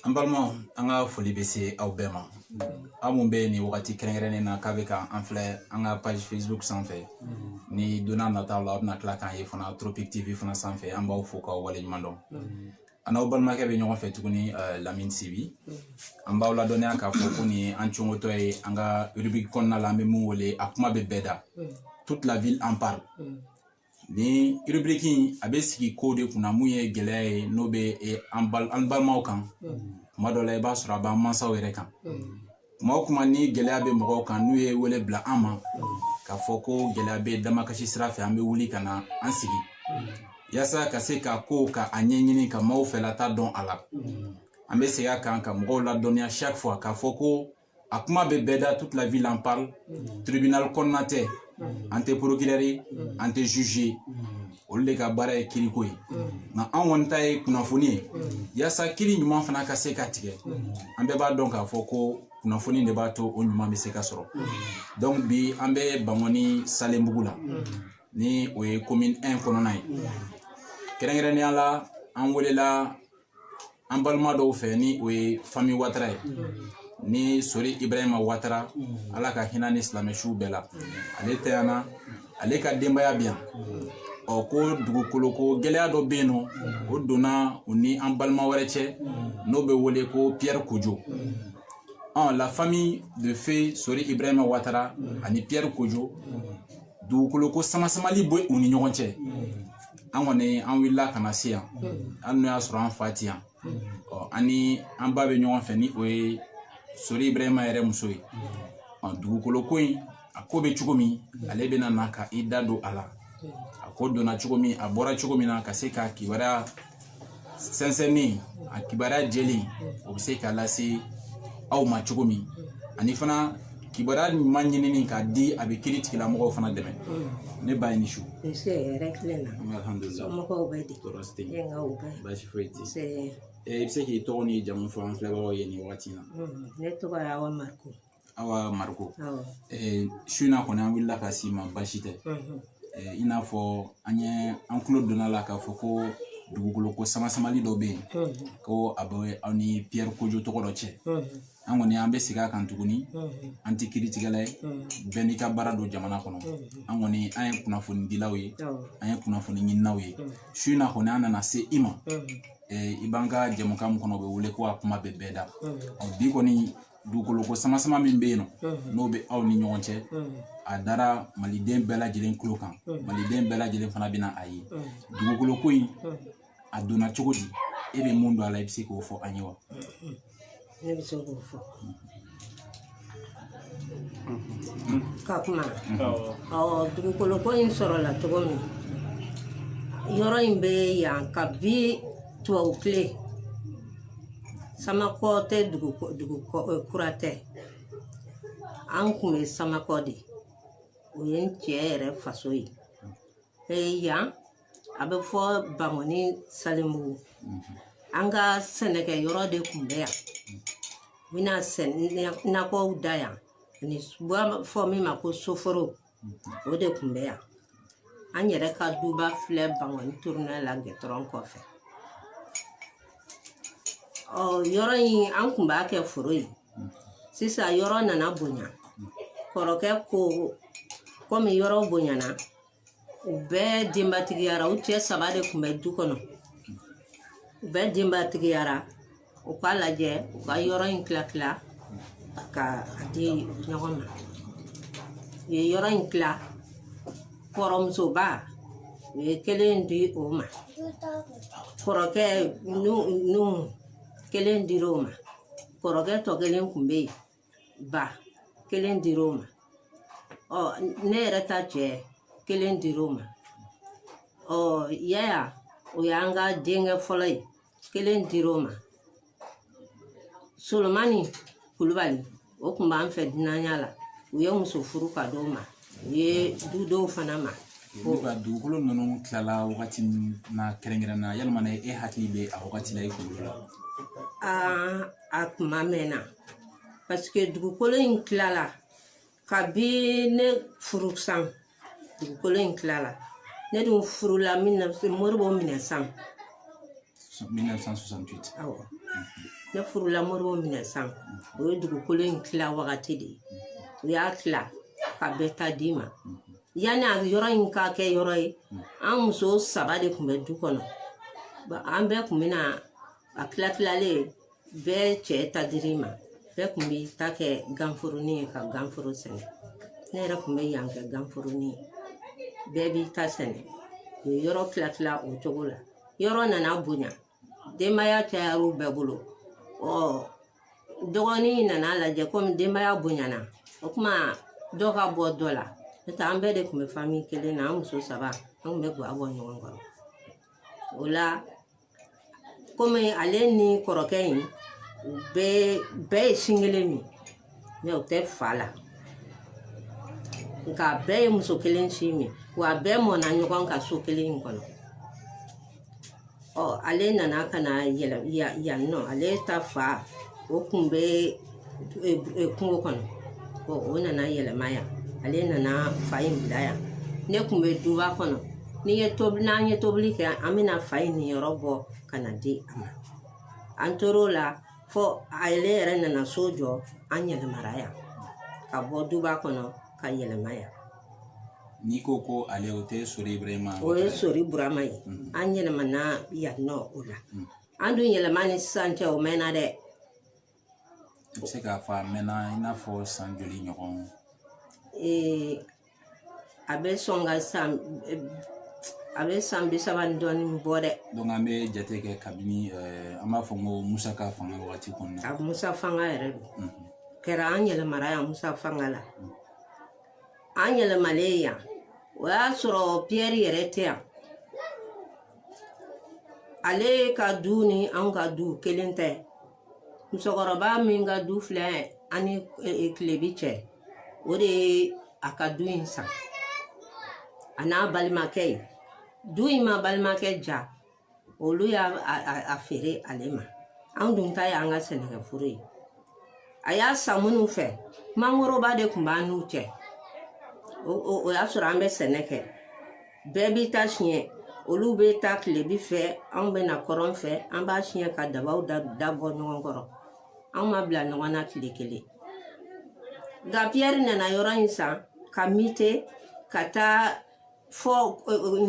an balimaw an ka foli bɛ se aw bɛɛ ma aw minnu bɛ nin wagati kɛrɛnkɛrɛnnen na k'a bɛ ka an filɛ an ka page facebook sanfɛ ni don nataw la aw bɛna tila k'an ye fana tropic tv fana sanfɛ an b'aw fo k'aw waleɲuman dɔn an n'aw balimakɛ bɛ ɲɔgɔn fɛ tuguni lamini sibi an b'aw ladɔnniya k'a fɔ ko nin an congotɔ ye an ka rubrique kɔnɔna la an bɛ min wele a kuma bɛ bɛɛ da toute la ville en parle nin rubrique in a bɛ sigi ko de kunna min ye gɛlɛya ye n'o bɛ an balimaw kan tuma dɔ la i b'a sɔrɔ a b'an mansaw yɛrɛ kan kuma o kuma ni gɛlɛya bɛ mɔgɔw kan n'u ye wele bila an ma k'a fɔ ko gɛlɛya bɛ damakasi sira fɛ an bɛ wuli ka na an sigi yasa ka se ka ko ka a ɲɛɲini ka maaw fɛla ta dɔn a la an bɛ segin a kan ka mɔgɔw ladɔnniya chaque fois k'a fɔ ko a kuma bɛ bɛɛ da toute la ville en parle tribunal kɔnɔna tɛ an tɛ porokirɛri an tɛ zuzi olu de ka baara ye kiriko ye nka an kɔni ta ye kunnafoni ye yaasa kiri ɲuman fana ka se ka tigɛ an bɛɛ b'a dɔn k'a fɔ ko kunnafoni de b'a to o ɲuman bɛ se ka sɔrɔ donc bi an bɛ bankɔni salenbugu la ni o ye komini 1 kɔnɔna ye kɛrɛnkɛrɛnnenya la an welela an balima dɔw fɛ ni o ye famille watara ye ni sori ibrahima watara ala ka hinɛ a ni silamɛ suw bɛɛ la ale tayana ale ka denbaya bi yan ɔ ko dugukolo ko gɛlɛya dɔ bɛ yen n'o donna u ni an balima wɛrɛ cɛ n'o bɛ wele ko piyɛri kojo ɔ la famille de feu sori ibrahima watara ani piyɛri kojo dugukolo ko samasamali bɛ u ni ɲɔgɔn cɛ an kɔni an wulila ka na se yan hali n'o y'a sɔrɔ an fa ti yan ɔ an ni an ba bɛ ɲɔgɔn fɛ ni o ye sori ibrahima yɛrɛ muso ye ɔ dugukolo ko in a ko bɛ cogo min ale bɛna na ka i da don a la a ko donna cogo min a bɔra cogo min na ka se ka kibaruya sɛnsɛnni a kibaruya jɛlen o bɛ se ka lase aw ma cogo min ani fana kibaruya ɲuman ɲinini k'a di a bɛ kiri tigilamɔgɔw fana dɛmɛ ne ba i ni su baasi foyi tɛ i bɛ se k'i tɔgɔ ni jamu fɔ an filɛbagaw ye nin wagati in na ne tɔgɔ ye awa mariko awa mariko su in na kɔni an wulila ka se i ma baasi tɛ i n'a fɔ an tulo donna a la k'a fɔ ko dugukolo ko samasamali dɔ bɛ yen ko a bɛ aw ni piyɛri kojo tɔgɔ dɔ cɛ an kɔni an bɛ segin a kan tuguni an tɛ kiritigɛla ye bɛɛ n'i ka baara don jamana kɔnɔ an kɔni an ye kunnafoni dilaw ye an ye kunnafoni ɲininaw ye su in na kɔni an nana se i ma i b'an ka jɛmukan min kɔnɔ o bɛ wele ko a kuma bɛ bɛɛ da bi kɔni dugukolo ko sama sama min bɛ yen nɔ n'o bɛ aw ni ɲɔgɔn cɛ a dara maliden bɛɛ lajɛlen tulo kan maliden bɛɛ lajɛlen fana bɛna a ye dugukolo ko in a donna cogo di e bɛ mun don a la i bɛ se k'o fɔ an ye wa ne bɛ se k'o fɔ ka kuma ɔ dugukolo ko in sɔrɔla cogo min yɔrɔ in bɛ yan kabi tubabu tile samakɔ tɛ dugu dugu kura tɛ an kun bɛ samakɔ de o ye n cɛ yɛrɛ faso ye ee yan a bɛ fɔ bangɔni salenbugu an ka sɛnɛkɛ yɔrɔ de kun bɛ yan n bɛna sɛnɛ nakɔw da yan an b'a fɔ min ma ko soforo o de kun bɛ yan an yɛrɛ ka duba filɛ bangɔni turunɛ la gɛtɔrɔn kɔfɛ ɔ yɔrɔ in an kun b'a kɛ foro ye sisan yɔrɔ nana bonya kɔrɔkɛ ko komi yɔrɔ bonyana u bɛɛ denbatigiyara u cɛ saba de kun bɛ du kɔnɔ u bɛɛ denbatigiyara u k'a lajɛ u ka yɔrɔ in tila tila ka a di ɲɔgɔn ma u ye yɔrɔ in tila kɔrɔmusoba u ye kelen di o ma kɔrɔkɛ nu nu kelen dira o ma kɔrɔkɛ tɔ kelen kun bɛ yen ba kelen dir'o ma ɔ ne yɛrɛ ta cɛ kelen dir'o ma ɔ yaya o y'an ka denkɛ fɔlɔ ye kelen dir'o ma solomani kulubali o kun b'an fɛ dunanya la u ye muso furu ka d'o ma u ye du d'o fana ma olu ka dugukolo ninnu tilala wagati min na kɛrɛnkɛrɛn na yalima e hakili bɛ a wagati la i kunkolo la a kuma mɛnna paseke dugukolo in tilala kabi ne furu san dugukolo in tilala ne dun furula moribo minɛ san 1968 awɔ ne furula moribo minɛ san o ye dugukolo in tila wagati de ye u y'a tila ka bɛɛ ta d'i ma yanni a yɔrɔ in ka kɛ yɔrɔ ye an muso saba de kun bɛ du kɔnɔ an bɛɛ kun bɛna a tilatilalen bɛɛ cɛ ta dir'i ma bɛɛ kun b'i ta kɛ ganforonin ye ka ganforo sɛnɛ ne yɛrɛ kun bɛ yan kɛ ganforonin ye bɛɛ b'i ta sɛnɛ u ye yɔrɔ tila tila o cogo la yɔrɔ nana bonya denbaya cayar'u bɛɛ bolo ɔ dɔgɔnin nana lajɛ komi denbaya bonyana o kuma dɔ ka bɔ dɔ la n'o tɛ an bɛɛ de kun bɛ fami kelen na an muso saba an kun bɛ ga bɔ ɲɔgɔn kɔrɔ o la komi ale ni kɔrɔkɛ in u bɛɛ ye sin kelen min mɛ u tɛ fa la nka a bɛɛ ye muso kelen sin min wa a bɛɛ mɔnna ɲɔgɔn ka so kelen in kɔnɔ ɔ ale nana ka na yɛlɛ yan nɔ ale ta fa o kun bɛ kungo kɔnɔ o nana yɛlɛma yan ale nana fa in bila yan ne kun bɛ duba kɔnɔ n'an ye tobili kɛ an bɛna fa in niyɔrɔ bɔ ka na di a ma an tor'o la fɔ ale yɛrɛ nana so jɔ an yɛlɛmara yan ka bɔ duba kɔnɔ ka yɛlɛma yan n'i ko ko ale o tɛ sori burama o ye sori burama ye mm-hmm. an yɛlɛmana yan nɔ o la mm-hmm. an dun yɛlɛma ni sisan cɛ o mɛnna dɛ i bɛ se k'a fɔ a mɛnna i n'a fɔ san joli ɲɔgɔn a bɛ sɔn ka san a bɛ san bi saba ni dɔɔnin bɔ dɛ an bɛ jate kɛ kabini an b'a fɔ ko musa ka fanga wagati kɔnɔna a musa fanga yɛrɛ don kɛra an yɛlɛmara yan musa fanga la an yɛlɛmalen yan o y'a sɔrɔ piyɛri yɛrɛ tɛ yan ale ka du ni anw ka du kelen tɛ musokɔrɔba min ka du filɛ an ni kilebi e, e, cɛ o de ye a ka du in san a n'a balimakɛ ye du in ma balimakɛ ja olu y'a feere ale ma an dun ta y'an ka sɛnɛkɛforo ye a y'a san minnu fɛ mangoroba de kun b'an n'u cɛ o y'a sɔrɔ an bɛ sɛnɛ kɛ bɛɛ b'i ta siɲɛ olu bɛ taa kilebi fɛ anw bɛ na kɔrɔn fɛ an b'a siɲɛ ka dabaw da bɔ ɲɔgɔn kɔrɔ anw ma bila ɲɔgɔn na tile kelen nka piyɛri nana yɔrɔ in san ka mite ka taa fɔ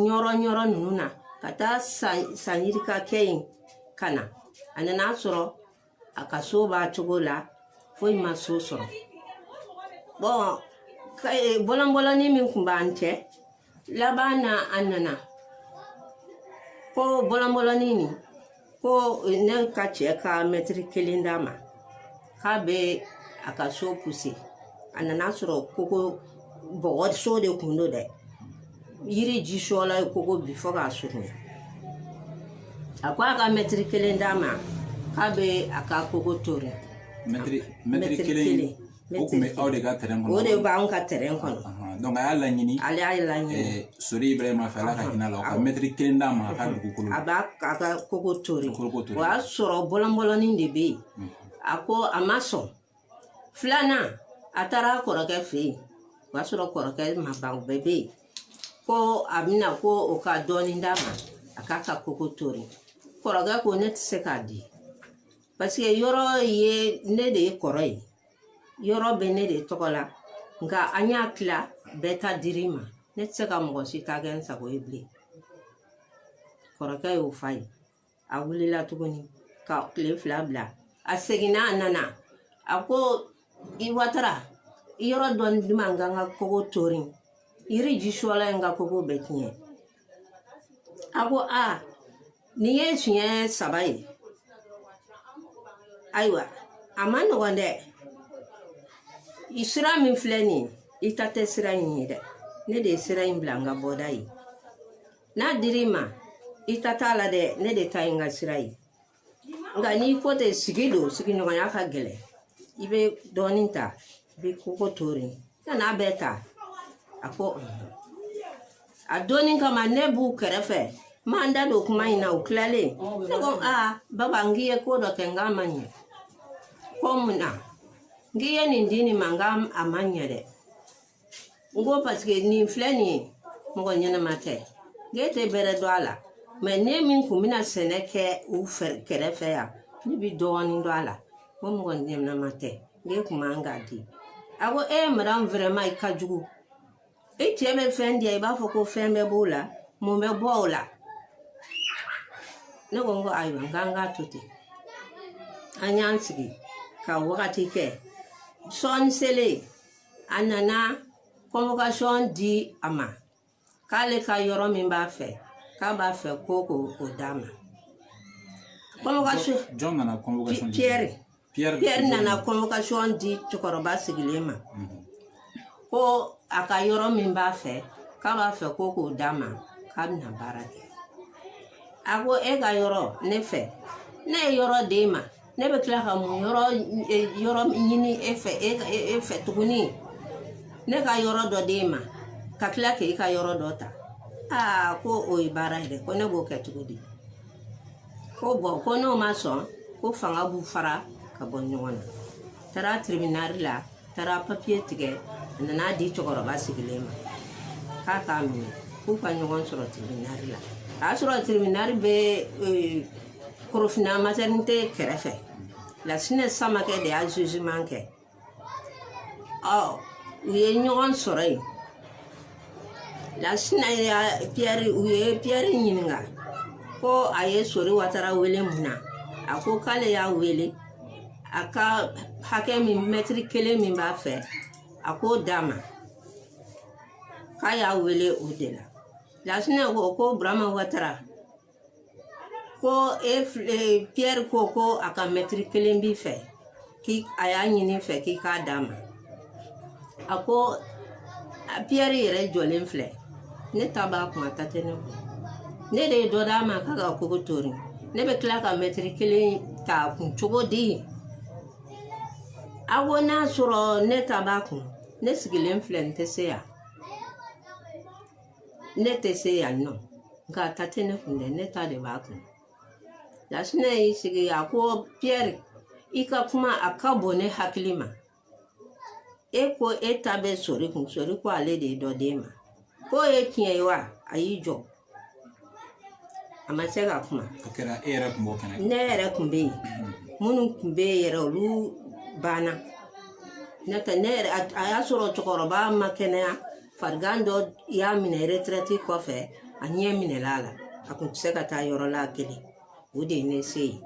ɲɔrɔ ɲɔrɔ ninnu na ka taa san yirika kɛ yen ka na a nana sɔrɔ a ka so b'a cogo la foyi ma so sɔrɔ bɔn eh, bɔlɔnbɔlɔnin min kun b'an cɛ laban na a nana ko bɔlɔnbɔlɔnin nin ko eh, ne ka cɛ ka mɛtiri kelen d'a ma k'a bɛ a ka so puse a nana sɔrɔ koko bɔgɔso de kun don dɛ yiri ji sɔla ye koko bi fɔ k'a surunya a ko a ka mɛtiri kelen d'a ma k'a bɛ a ka koko tori mɛtiri kelen o tun bɛ aw de ka tɛrɛn kɔnɔ o de b'anw ka tɛrɛn kɔnɔ donc a y'a laɲini ale y'a laɲini eh, sori ibrahima fɛ ala ka hinɛ la o ka mɛtiri kelen d'a ma a ka dugukolo a b'a ka koko tori o y'a sɔrɔ bɔlɔnbɔlɔnin de bɛ yen a ko a ma sɔn filanan a taara a kɔrɔkɛ fɛ yen o y'a sɔrɔ kɔrɔkɛ ma ban o bɛɛ bɛ yen ko a bɛna ko o ka dɔɔnin d'a ma a k'a ka koko tori kɔrɔkɛ ko ne tɛ se k'a di paseke yɔrɔ ye ne de ye kɔrɔ ye yɔrɔ bɛ ne de tɔgɔ la nka an y'a tila bɛɛ ta dir'i ma ne tɛ se ka mɔgɔ si ta kɛ n sago ye bilen kɔrɔkɛ y'o f'a ye a wulila tuguni ka tile fila bila a seginna a nana a ko i watara yɔrɔ dɔ di n ma n ka n ka kogo tori yiri ji sɔla ye n ka kogo bɛɛ tiɲɛ a ko a nin ye siɲɛ saba ye ayiwa a man nɔgɔn dɛ i sira min filɛ nin ye i ta tɛ sira in ye dɛ ne de ye sira in bila n ka bɔda ye n'a dir'i ma i ta t'a la dɛ ne de ta ye n ka sira ye nka n'i ko ten sigi don sigiɲɔgɔnya ka gɛlɛn i bɛ dɔɔnin ta i bɛ koko tori kan'a bɛɛ ta a ko a donni kama ne b'u kɛrɛfɛ n ma n da don kuma in na u tilalen ne ko aa baba n k'i ye ko dɔ kɛ nk'a ma ɲɛ ko mun na n k'i ye nin di nin ma nka a ma ɲɛ dɛ n ko paseke nin filɛ nin ye mɔgɔ ɲɛnama tɛ n k'e tɛ bɛrɛ dɔn a la mɛ ne min kun bɛ na sɛnɛ kɛ u kɛrɛfɛ yan ne bi dɔɔnin dɔn a la ko mɔgɔ ɲɛnama tɛ n k'e kun man kan k'a di a ko e madame vraiment i ka jugu e cɛ bɛ fɛn di i b'a fɔ ko fɛn bɛ b'o la mun bɛ bɔ o la ne ko n ko ayiwa n k'an k'a to ten an y'an sigi ka wagati kɛ sɔɔni selen a nana convocation di a ma k'ale ka yɔrɔ min b'a fɛ k'a b'a fɛ ko k'o d'a ma convocation jɔn nana convocation di Pierre Pierre Pierre nana convocation di cɛkɔrɔba sigilen ma mhm. ko a ka yɔrɔ min b'a fɛ k'a b'a fɛ ko k'o d'a ma k'a bɛna baara kɛ a ko e ka yɔrɔ ne fɛ ne ye yɔrɔ d'e ma ne bɛ tila ka mun yɔrɔ yɔrɔ ɲini e fɛ tuguni ne ka yɔrɔ dɔ d'e ma ka tila k'e ka yɔrɔ dɔ ta aa ko o ye baara ye dɛ ko ne b'o kɛ cogo di ko bɔn ko n'o ma sɔn ko fanga b'u fara ka bɔ ɲɔgɔn na taara tiribinali la taara papiye tigɛ a nan'a di cɛkɔrɔba sigilen ma k'a k'a minɛ k'u ka ɲɔgɔn sɔrɔ tiribinali la a y'a sɔrɔ tiribinali bɛ eh, korofina matɛrinite kɛrɛfɛ lasinɛ samakɛ de y'a zuziman kɛ ɔ u ye ɲɔgɔn sɔrɔ yen lasinɛ ya piyɛri u ye piyɛri ɲininka ko a ye sori watara wele mun na a ko k'ale y'a wele a ka hakɛ min mɛtiri kelen min b'a fɛ a k'o d'a ma k'a y'a wele o de la lasinɛ ko ko burama watara ko e piyɛri ko ko a ka mɛtiri kelen b'i fɛ k'i a y'a ɲin'i fɛ k'i k'a d'a ma a ko a piyɛri yɛrɛ jɔlen filɛ ne ta b'a kun a ta tɛ ne kun ne de ye dɔ d'a ma k'a ka kogo tori ne bɛ tila ka mɛtiri kelen t'a kun cogo di a ko n'a sɔrɔ ne ta b'a kun ne sigilen filɛ n tɛ se yan ne tɛ se yan nɔ nka a ta tɛ ne kun dɛ ne ta de b'a kun Lasinɛ y'i sigi a ko piyɛri i ka kuma a ka bon ne hakili ma. E ko e ta bɛ sori kun sori ko ale de ye dɔ d'e ma. K'o ye tiɲɛ ye wa a y'i jɔ. A ma se ka kuma. O kɛra e yɛrɛ kun b'o kɛnɛ kan. Ne yɛrɛ kun bɛ yen. Minnu kun bɛ yen yɛrɛ olu banna. N'o tɛ ne yɛrɛ a a y'a sɔrɔ cɛkɔrɔba ma kɛnɛya. farigan dɔ y'a minɛ retirɛti kɔfɛ a ɲɛ minɛla a la a kun tɛ se ka taa yɔrɔ la kelen o de ye ne se yen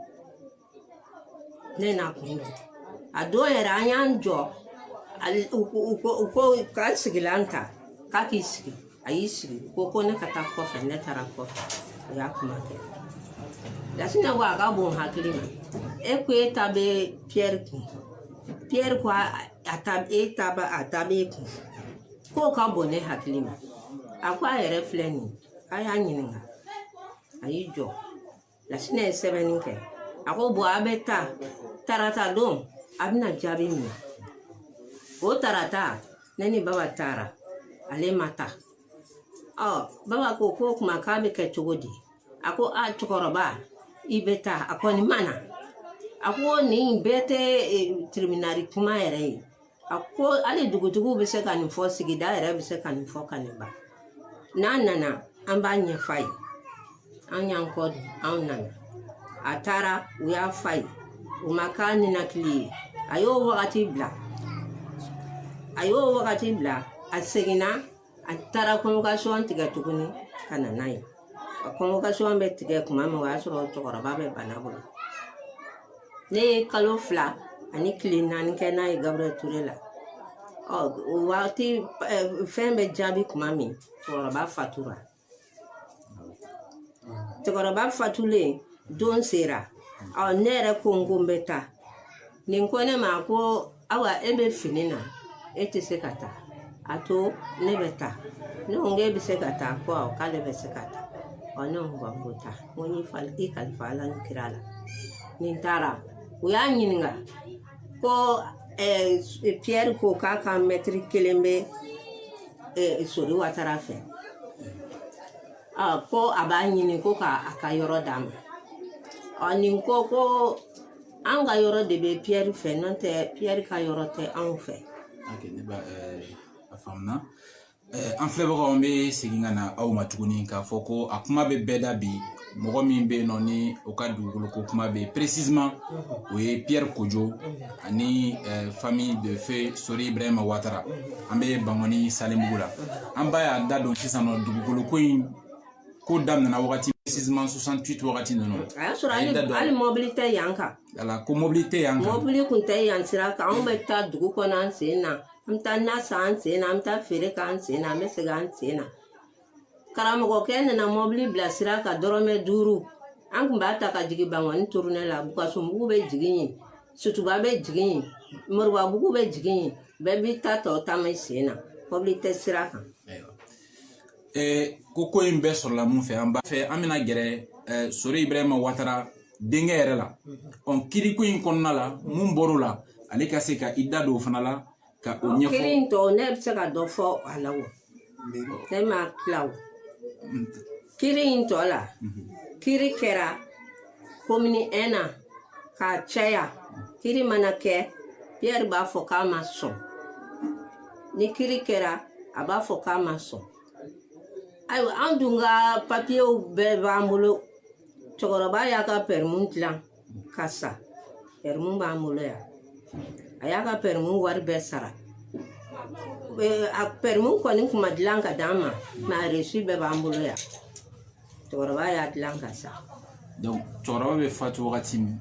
ne n'a kun don a don yɛrɛ an y'an jɔ u ko k'a sigilan ta k'a k'i sigi a y'i sigi ko ko ne ka taa kɔfɛ ne taara kɔfɛ o y'a kuma kɛ lasinɛ ko a ka bon hakili ma e ko e ta bɛ piyɛri kun piyɛri ko a a ta e ta ba a ta b'e kun k'o ka bon ne hakili ma a ko a yɛrɛ filɛ nin a y'a ɲininka a y'i jɔ lasinɛ ye sɛbɛnni kɛ a ko bɔn a bɛ taa tarata don a bɛna jaabi minɛ o tarata ne ni baba taara ale ma taa ɔ baba ko k'o kuma k'a bɛ kɛ cogo di a ko a cɛkɔrɔba i bɛ taa a kɔni ma na a ko nin bɛɛ tɛ e, tribunali kuma yɛrɛ ye a ko hali dugutigiw bɛ se ka nin fɔ sigida yɛrɛ bɛ se ka nin fɔ ka nin ban n'a nana an b'a ɲɛf'a ye an y'an kɔ di anw nana a taara u y'a f'a ye o ma k'a ninakili ye a y'o wagati bila a y'o wagati bila a seginna a taara convocation tigɛ tuguni ka na n'a ye a convocation bɛ tigɛ kuma min o y'a sɔrɔ cɛkɔrɔba bɛ bana bolo ne ye kalo fila ani tile naani kɛ n'a ye gabriel ture la ɔ o waati fɛn bɛ jaabi kuma min cɛkɔrɔba fatura cɛkɔrɔba fatulen don sera ɔ ne yɛrɛ ko n ko n bɛ taa nin ko ne ma ko awa e bɛ fini na e tɛ se ka taa a to ne bɛ taa ne ko n ko e bɛ se ka taa ko awɔ k'ale bɛ se ka taa ɔ ne ko n ko taa n ko n y'i kalifa ala ni kira la ni n taara u y'a ɲininka ko piyɛri ko k'a ka mɛtiri kelen bɛ sori watara fɛ ko a b'a ɲini ko k'a ka yɔrɔ d'a ma ɔ nin ko ko an ka yɔrɔ de bɛ piyɛri fɛ n'o tɛ piyɛri ka yɔrɔ tɛ anw fɛ. a faamuna an filɛbagaw an bɛ segin ka na aw ma tuguni k'a fɔ ko a kuma bɛ bɛɛ da bi mɔgɔ min bɛ yen nɔ ni o ka dugukolo ko kuma bɛ yen précisément o ye piyɛri kojo ani famille de feu sori ibrahima watara an bɛ bangɔni salenbugu la an b'a y'a da don sisan nɔ dugukolo ko in ko daminɛna wagati précisément 68 wagati ninnu a y'a sɔrɔ hali mɔbili tɛ yan kan ala ko mɔbili tɛ yan kan mɔbili kun tɛ yan sira kan anw bɛ taa dugu kɔnɔ an sen na an bɛ taa na san an sen na an bɛ taa feere k'an sen na an bɛ segin an sen na karamɔgɔkɛ nana mɔbili bila sira kan dɔrɔmɛ duuru an kun b'a ta ka jigin bangɔni turunɛ la bukasunbugu bɛ jigin yen sutuba bɛ jigin yen moribabugu bɛ jigin yen bɛɛ b'i ta tɔ taama i sen na mɔbili tɛ sira kan ko ko in bɛɛ sɔrɔla mun fɛ an b'a fɛ an bɛna gɛrɛ sori ibrahima watara denkɛ yɛrɛ la ɔn kiriko in kɔnɔna la mun bɔr'o la ale ka se ka i da don o fana la ka o ɲɛfɔ kiri in tɔ ne bɛ se ka dɔ fɔ a la o ne ma tila o kiri in tɔ la kiri kɛra komini ɛn na k'a caya kiri mana kɛ piyɛri b'a fɔ k'a ma sɔn ni kiri kɛra a b'a fɔ k'a ma sɔn ayiwa an dun ka papiyew bɛɛ b'an bolo cɛkɔrɔba y'a ka pɛrɛmu dilan ka sa pɛrɛmu b'an bolo yan a y'a ka pɛrɛmu wari bɛɛ sara a pɛrɛmu kɔni kun ma dilan ka d'an ma mɛ a resi bɛɛ b'an bolo yan cɛkɔrɔba y'a dilan ka sa cɛkɔrɔba bɛ fatu wagati min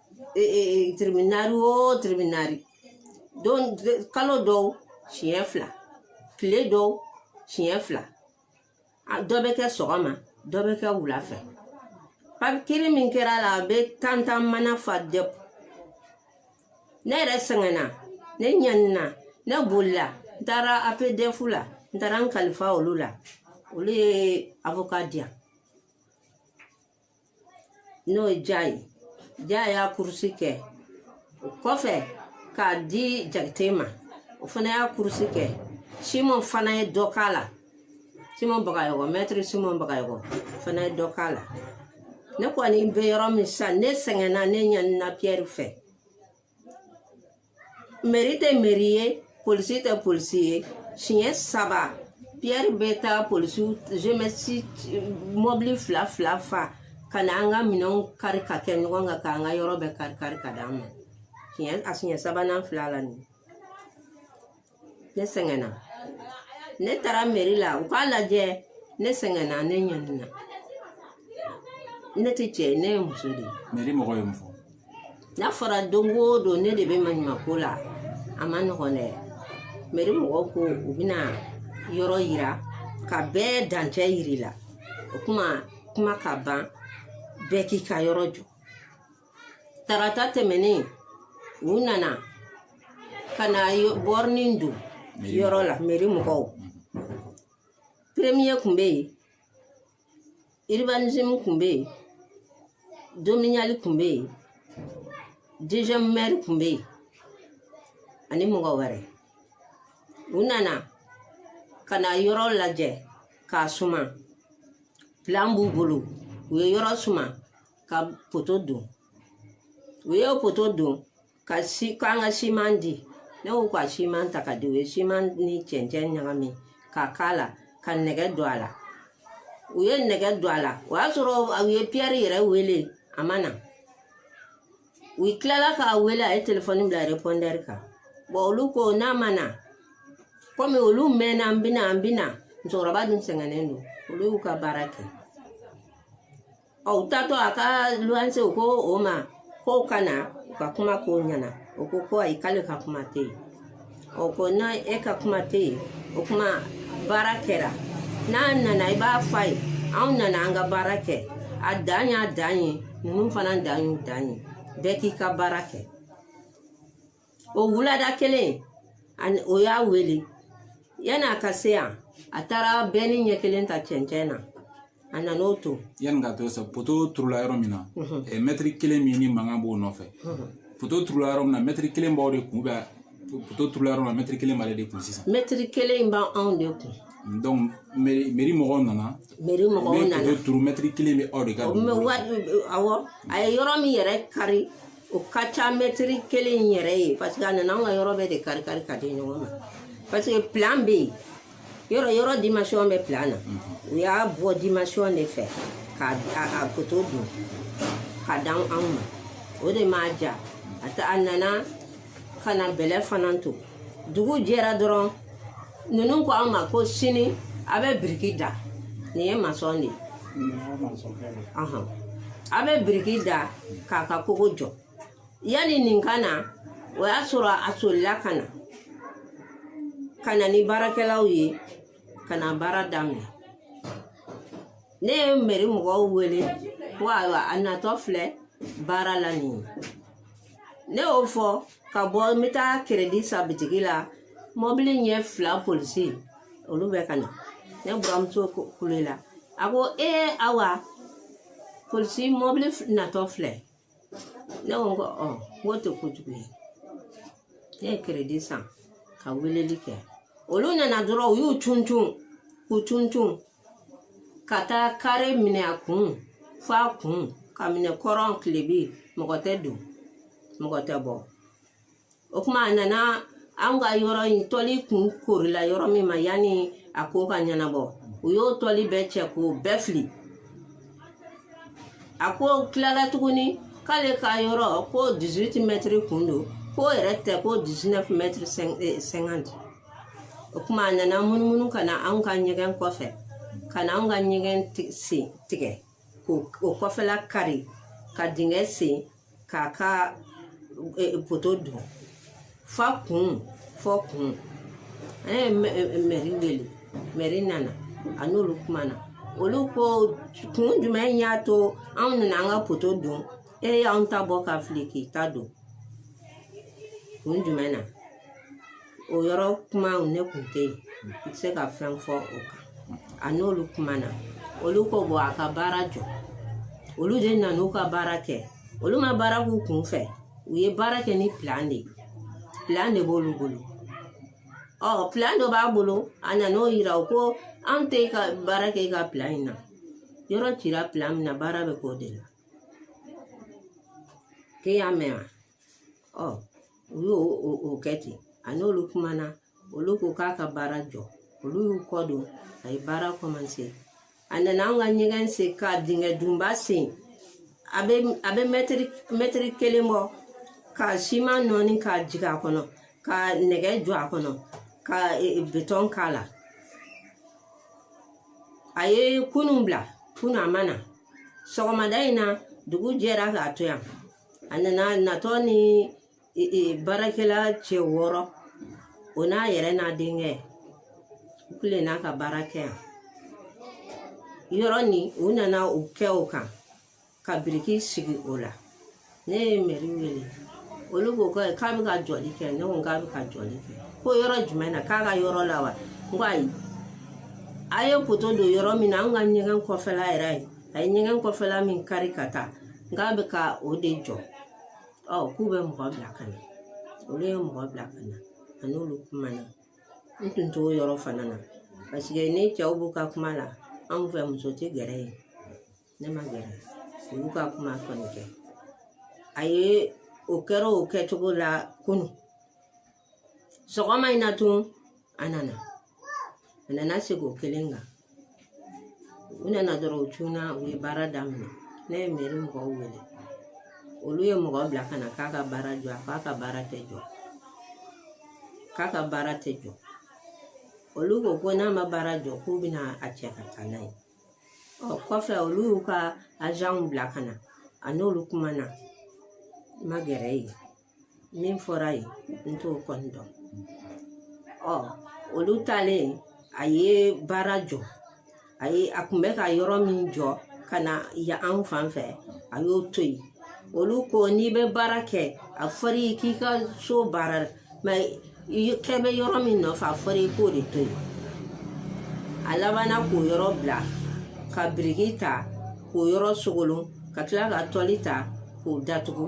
e, e, e, tribunal o tribunal don kalo dɔw siɲɛ fila tile dɔw siɲɛ fila dɔ bɛ kɛ sɔgɔma dɔ bɛ kɛ wula fɛ kiri min kɛra la a bɛ tantan mana fa dɛ ne yɛrɛ sɛgɛnna ne ɲanina ne bolila n taara apdf la n taara n kalifa olu la olu ye avoka di an n'o ye ja ye ja y'a kurusi kɛ o kɔfɛ k'a di jakite ma o fana y'a kurusi kɛ simon fana ye dɔ k'a la simon bagayɔgɔ mɛtiri simon bagayɔgɔ fana ye dɔ k'a la ne kɔni bɛ yɔrɔ min sisan ne sɛgɛnna ne ɲanina piyɛri fɛ meri tɛ meri ye polisi tɛ polisi ye siɲɛ saba piyɛri bɛ taa polisiw zemɛsi mɔbili fila fila fa ka na an ka minɛnw kari ka kɛ ɲɔgɔn kan k'an ka yɔrɔ bɛɛ kari kari ka d'an ma a siɲɛ sabanan filɛ nin ne sɛgɛnna ne taara meri la u k'a lajɛ ne sɛgɛnna ne ɲanina ne tɛ cɛ ye ne ye muso de ye meri mɔgɔ ye mun fɔ n'a fɔra don o don ne de bɛ maɲumako la a ma nɔgɔn dɛ meri mɔgɔw ko u bɛna yɔrɔ yira ka bɛɛ dancɛ yir'i la o kuma kuma ka ban bɛɛ k'i ka yɔrɔ jɔ tarata tɛmɛnen u nana ka na bɔrinin don yɔrɔ la meri mɔgɔw premier kun bɛ yen urbanisme kun bɛ yen domanial kun bɛ yen deuxième maire kun bɛ yen ani mɔgɔ wɛrɛ u nana ka na yɔrɔ lajɛ k'a suma plan b'u bolo u ye yɔrɔ suma ka poto don u ye poto don ka si k'an ka siman di ne y'u ka siman ta ka di u ye siman ni cɛncɛn ɲagami ka k'a la ka nɛgɛ don a la u ye nɛgɛ don a la o y'a sɔrɔ u ye piyɛri yɛrɛ wele a ma na u tilala k'a wele a ye telefɔni bila repɔndɛri kan bɔn olu ko n'a ma na kɔmi olu mɛnna an bɛna an bɛna musokɔrɔba dun sɛgɛnnen don olu y'u ka baara kɛ Ɔ u taatɔ a ka luwanse u ko o ma k'o ka na u ka kuma k'o ɲɛna o ko ko ayi k'ale ka kuma tɛ yen ɔ ko n'e ka kuma tɛ yen o kuma baara kɛra n'a nana i b'a fɔ a ye anw nana an ka baara kɛ a dan y'a dan ye ninnu fana dan y'u dan ye bɛɛ k'i ka baara kɛ o wulada kelen o y'a wele yanni a ka se yan a taara bɛni ɲɛ kelen ta cɛncɛn na a nan'o to yanni ka to sa poto turula yɔrɔ min na eh, mɛtiri kelen min ni mankan b'o nɔfɛ poto turula yɔrɔ min na mɛtiri kelen b'aw de kun bɛ poto turula yɔrɔ min na mɛtiri kelen b'ale de kun sisan mɛtiri kelen in b'anw de kun donc meri meri mɔgɔw nana meri mɔgɔw nana poto turu mɛtiri kelen bɛ aw de ka awɔ a ye yɔrɔ min yɛrɛ kari o ka ca mɛtiri kelen yɛrɛ ye parce que a nana anw ka yɔrɔ bɛɛ de kari kari ka di ɲɔgɔn ma parce que plan bɛ yen yɔrɔ yɔrɔ dimasiyɔn bɛ plan na u y'a bɔ dimasiyɔn de fɛ ka a poto don ka dan anw ma o de m'a ja a ta a nana ka na bɛlɛ fana to dugu jɛra dɔrɔn ninnu ko an ma ko sini a bɛ biriki da nin ye masɔn de ye a bɛ biriki da k'a ka kogo jɔ yanni nin ka na o y'a sɔrɔ a solila ka na ka na ni baarakɛlaw ye ka na baara daminɛ ne ye meri mɔgɔw wele ko ayiwa a natɔ filɛ baara la nin ye ne y'o fɔ ka bɔ n bɛ taa keredi san bitigi la mɔbili ɲɛ fila polisi olu bɛ ka na ne buramuso kulela a ko ee awa polisi mɔbili natɔ filɛ ne ko ko ɔ k'o tɛ kojugu ye ne ye keredi san ka weleli kɛ olu nana dɔrɔn u y'u cun cun k'u cun cun ka taa kare minɛ a kun fo a kun ka minɛ kɔrɔn tilebi mɔgɔ tɛ don mɔgɔ tɛ bɔ o kuma a nana anw ka yɔrɔ in tɔli kun korila yɔrɔ min ma yanni a ko ka ɲɛnabɔ u y'o tɔli bɛɛ cɛ k'o bɛɛ fili a ko tilala tuguni k'ale ka yɔrɔ ko 18 mɛtiri kun don k'o yɛrɛ tɛ ko 19 mɛtiri 50 o kuma a nana munumunu ka na anw ka ɲɛgɛn kɔfɛ ka na anw ka ɲɛgɛn sen tigɛ k'o o kɔfɛla kari ka dingɛ sen k'a ka e, e, poto don f'a kun fo a kun an ye mɛri wele mɛri nana a n'olu kumana olu ko kun jumɛn y'a to anw nana an ka poto don e y'anw ta bɔ ka fili k'i ta don kun jumɛn na o yɔrɔ kuma ne kun tɛ yen n tɛ se ka fɛn fɔ o kan a n'olu kumana olu ko bɔn a ka baara jɔ olu de nana u ka baara kɛ olu ma baara k'u kun fɛ u ye baara kɛ ni pilan de ye pilan de b'olu bolo ɔ pilan dɔ b'a bolo a nan'o yira u ko an tɛ ka baara kɛ i ka pilan in na yɔrɔ cira pilan min na baara bɛ k'o de la k'e y'a mɛn wa ɔ u y'o o kɛ ten a n'olu kumana olu ko k'a ka baara jɔ olu y'u kɔ don a ye baara kɔmanse a nana an ka ɲɛgɛn sen ka dingɛ dunba sen a bɛ a bɛ mɛtiri mɛtiri kelen bɔ ka siman nɔɔni k'a jigin a kɔnɔ ka nɛgɛ jɔ a kɔnɔ ka e, e, betɔn k'a la a ye kunun bila kunun a ma na sɔgɔmada in na dugu jɛra k'a to yan a nana natɔ ni e, e, baarakɛla cɛ wɔɔrɔ o n'a yɛrɛ n'a denkɛ u tilenna ka baara kɛ yan yɔrɔ nin u nana u kɛ o kan ka biriki sigi o la ne ye mɛri wele olu ko k'a bɛ ka jɔli kɛ ne ko k'a bɛ ka jɔli kɛ ko yɔrɔ jumɛn na k'a ka yɔrɔ la wa n ko ayi a ye poto don yɔrɔ min na an ka ɲɛgɛn kɔfɛla yɛrɛ ye a ye ɲɛgɛn kɔfɛla min kari ka taa k'a bɛ ka o de jɔ ɔ k'u bɛ mɔgɔ bila ka na olu ye mɔgɔ bila ka na a n'olu kumana n tun t'o yɔrɔ fana na paseke ni cɛw b'u ka kuma la anw fɛ muso tɛ gɛrɛ yen ne ma gɛrɛ olu ka kuma kɔni kɛ a ye o kɛra o kɛcogo la kunu sɔgɔma in na tun a nana a nana segin o kelen kan u nana dɔrɔn u cunna u ye baara daminɛ ne ye mɛri mɔgɔw wele olu ye mɔgɔ bila ka na k'a ka baara jɔ a k'a ka baara tɛ jɔ k'a ka baara tɛ jɔ olu ko ko n'a ma baara jɔ k'u bɛna a cɛ ka taa n'a ye ɔ kɔfɛ olu y'u ka azanw bila ka na a n'olu kumana n ma gɛrɛ yen min fɔra yen n t'o kɔni dɔn ɔ olu taalen a ye baara jɔ a ye a kun bɛ ka yɔrɔ min jɔ ka na yan anw fan fɛ a y'o to yen olu ko n'i bɛ baara kɛ a fɔra i k'i ka so baara mankan bɛ yɔrɔ min nɔfɛ a fɔra i k'o de to yen a labanna k'o yɔrɔ bila ka biriki ta k'o yɔrɔ sogolon ka tila ka tɔli ta k'o datugu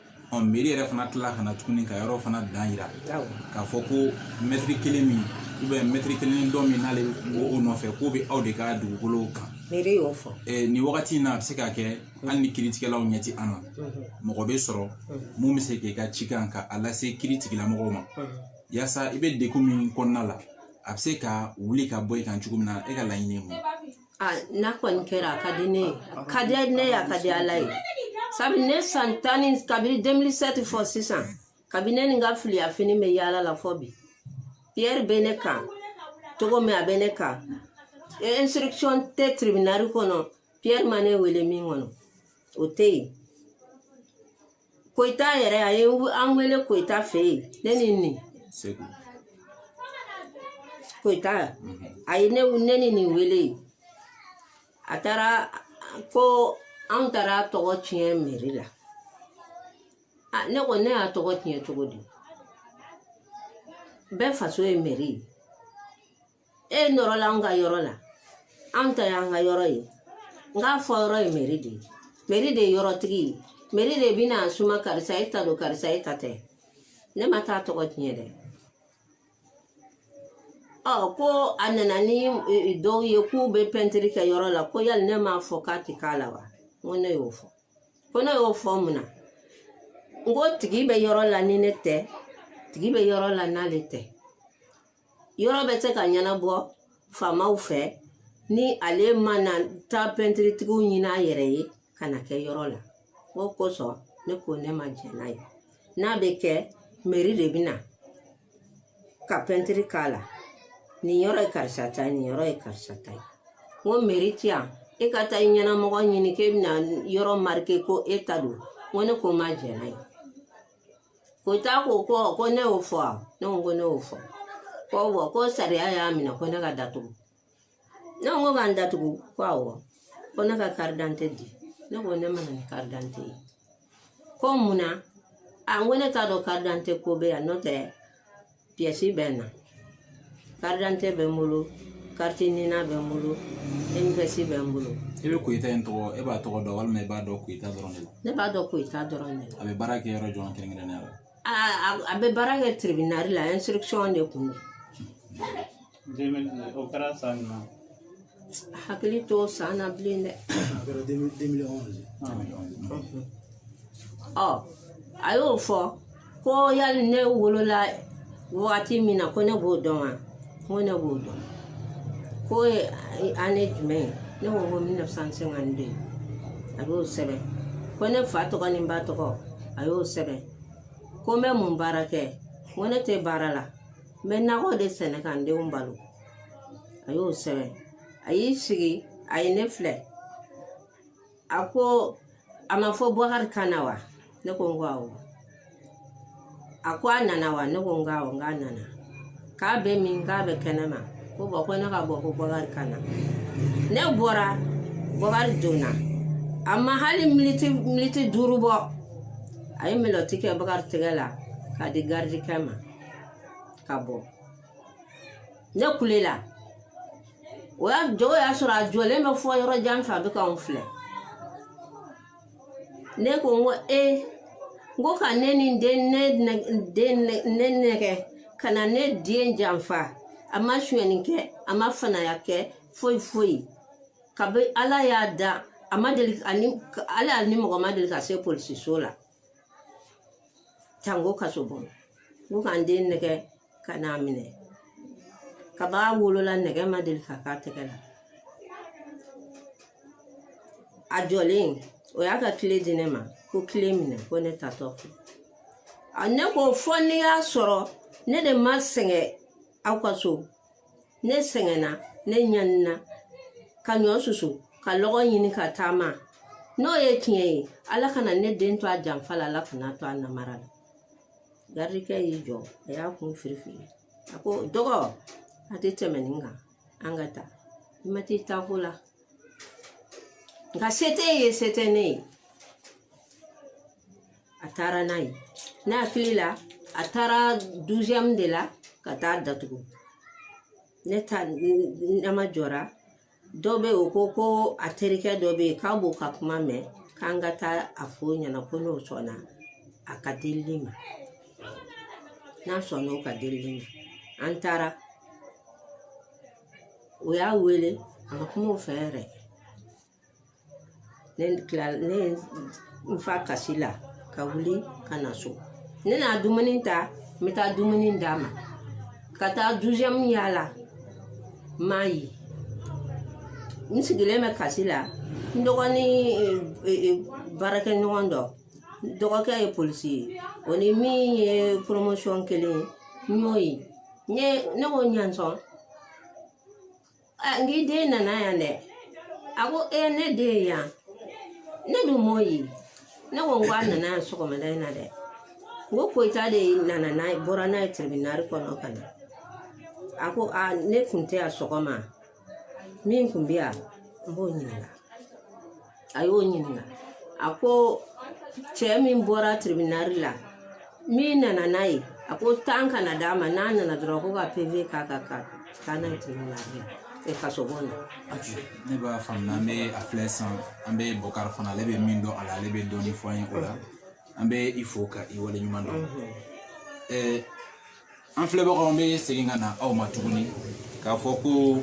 ɔ mɛri yɛrɛ fana tila ka na tuguni ka yɔrɔ fana dan yira k'a fɔ ko mɛtiri kelen min ubiyɛn mɛtiri kelen ni dɔ min n'ale bɛ o nɔfɛ k'o bɛ aw de ka dugukolow kan mɛri y'o fɔ ɛɛ nin wagati in na a bɛ se ka kɛ hali ni kiritigɛlaw ɲɛ tɛ an na mɔgɔ bɛ sɔrɔ min bɛ se k'i ka cikan ka a lase kiritigilamɔgɔw ma yaasa i bɛ degun min kɔnɔna la a bɛ se ka wuli ka bɔ i kan cogo min na e ka laɲini ye mun ye n'a kɔni kɛra a ka di ne ye a ka di ne ye a ka di ala ye sabu ne san tan ni kabini 2007 fɔ sisan kabini ne ni n ka filiya fini bɛ yaala la fɔ bi pierre bɛ ne kan cogo min a bɛ ne kan instruction tɛ tribunal kɔnɔ pierre ma ne wele min kɔnɔ o tɛ yen koyita yɛrɛ a ye an wele koyita fɛ yen ne ni nin koyita a ye ne ne ni nin wele a taara ko anw taara a tɔgɔ tiɲɛ mɛri la ne ko ne y'a tɔgɔ tiɲɛ cogo di bɛɛ faso ye mɛri ye e nɔrɔla an ka yɔrɔ la anw ta y'an ka yɔrɔ ye n k'a fɔ yɔrɔ ye meri de ye meri de ye yɔrɔtigi ye meri de bɛna a suma karisa e ta don karisa e ta tɛ ne ma taa tɔgɔ tiɲɛ dɛ ɔ ko a nana ni e, e, dɔw ye k'u bɛ pɛntiri kɛ yɔrɔ la ko yali ne m'a fɔ k'a tɛ k'a la wa n ko ne y'o fɔ ko ne y'o fɔ mun na n ko tigi bɛ yɔrɔ la ni ne tɛ tigi bɛ yɔrɔ la n'ale tɛ yɔrɔ bɛ se ka ɲɛnabɔ faamaw fɛ ni ale mana taa pɛntiritigiw ɲini a yɛrɛ ye ka na kɛ yɔrɔ la o kosɔn ne ko ne ma jɛn n'a ye n'a bɛ kɛ meri de bɛ na ka pɛntiri k'a la nin yɔrɔ ye karisa ta ye nin yɔrɔ ye karisa ta ye n ko meri ti yan e ka taa i ɲɛnamɔgɔ ɲini k'e bɛna yɔrɔ marike ko e ta don n ko ne ko n ma jɛn n'a ye koyita ko ko ko ne y'o fɔ wa ne ko ko ne y'o fɔ ko bɔn ko sariya y'a minɛ ko ne ka datugu ne ko ka n datugu ko awɔ ko ne ka karidante di ne ko ne ma na ni karidante ye ko mun na a n ko ne t'a dɔn karidante ko bɛ yan n'o tɛ piyɛsi bɛ n na karidante bɛ n bolo kariti nina bɛ n bolo enipɛsi bɛ n bolo i bɛ koyita in tɔgɔ e b'a tɔgɔ dɔn walima i b'a dɔn koyita dɔrɔn de la ne b'a dɔn koyita dɔrɔn de la a bɛ baara kɛ yɔrɔ jɔn kɛrɛnkɛrɛnnenya la a bɛ baara kɛ tiribinali la ɛnsirikisɔn de kun don o kɛra san jumɛn hakili t'o san na bilen dɛ a kɛra 2011 ɔ a y'o fɔ ko yali ne wolola wagati min na ko ne b'o dɔn wa n ko ne b'o dɔn k'o ye ane jumɛn ye ne ko n ko 1952 a y'o sɛbɛn ko ne fa tɔgɔ ni n ba tɔgɔ a y'o sɛbɛn ko n bɛ mun baara kɛ n ko ne tɛ baara la n bɛ nakɔ de sɛnɛ ka n denw balo a y'o sɛbɛn a y'i sigi a ye ne filɛ a ko a ma fɔ bakari ka na wa ne ko n ko awɔ a ko a nana wa ne ko n ko awɔ n k'a nana k'a bɛ min k'a bɛ kɛnɛma ko bɔn ko ne ka bɔ ko bakari ka na ne bɔra bakari donna a ma hali militi militi duuru bɔ a ye melɔti kɛ bakari tɛgɛ la k'a di garidikɛ ma ka bɔ ne kulela o y'a jɔ o y'a sɔrɔ a jɔlen bɛ fɔ yɔrɔ jan fɛ a bɛ k'anw filɛ ne ko n ko e n ko ka ne ni den ne den ne nɛgɛn ka na ne den janfa a ma sonyɛni kɛ a ma fanaya kɛ foyi foyi kabi ala y'a da a ma deli a ni ale ni mɔgɔ ma deli ka se polisiso la Janko kasobon ko ka n den nɛgɛ ka n'a minɛ kab'a wolola nɛgɛ ma deli ka k'a tɛgɛ la a jɔlen o y'a ka kile di ne ma ko kile minɛ ko ne taatɔ fɛ ne ko fo n'i y'a sɔrɔ ne de ma sɛgɛn aw ka so ne sɛgɛnna ne ɲanina ka ɲɔ susu ka lɔgɔ ɲini ka taama n'o ye tiɲɛ ye ala kana ne den to a janfa la ala kana to a namara la garidikɛ y'i jɔ a y'a kun firifiri a ko dɔgɔ a tɛ tɛmɛ nin kan an ka taa i ma t'i taako la nka se t'e ye se tɛ ne ye a taara n'a ye ne hakili la a taara duziyɛmu de la ka taa datugu ne ta nama jɔra dɔ bɛ o ko ko a terikɛ dɔ bɛ yen k'a b'o ka kuma mɛn k'an ka taa a fɔ o ɲɛna ko n'o sɔnna a ka delili ma n'a sɔnna o ka delili ma an taara o y'a wele a ma kuma o fɛ yɛrɛ ne tila ne ye n fa kasi la ka wuli ka na so ne na dumuni ta n bɛ taa dumuni d'a ma ka taa duziyɛmu yaala n m'a ye n sigilen bɛ kasi la n dɔgɔnin e, e, baarakɛɲɔgɔn dɔ dɔgɔkɛ ye polisi ye o ni min ye poromosiyɔn kelen ye n y'o ye ne ko ɲansɔn n k'i den nana yan dɛ a ko ee ne den ye yan ne dun m'o ye ne ko n ko a nana yan sɔgɔmada in na dɛ n ko koyita de nana n'a ye bɔra n'a ye tiribinari kɔnɔ ka na a ko a ne kun tɛ yan sɔgɔma min kun bɛ yan n b'o ɲininka a y'o ɲininka a ko cɛ min bɔra tiribinari la min nana n'a ye a ko tan kana d'a ma n'a nana dɔrɔn ko ka peve k'a ka ka taa n'a ye tiribinari la e kasobon na ne b'a faamuya an bɛ a filɛ san an bɛ bɔkari fana ale bɛ min dɔn a la ale bɛ dɔɔnin fɔ an ye o la an bɛ i fo ka i waleɲuman dɔn an filɛbagaw an bɛ segin ka na aw ma tuguni k'a fɔ ko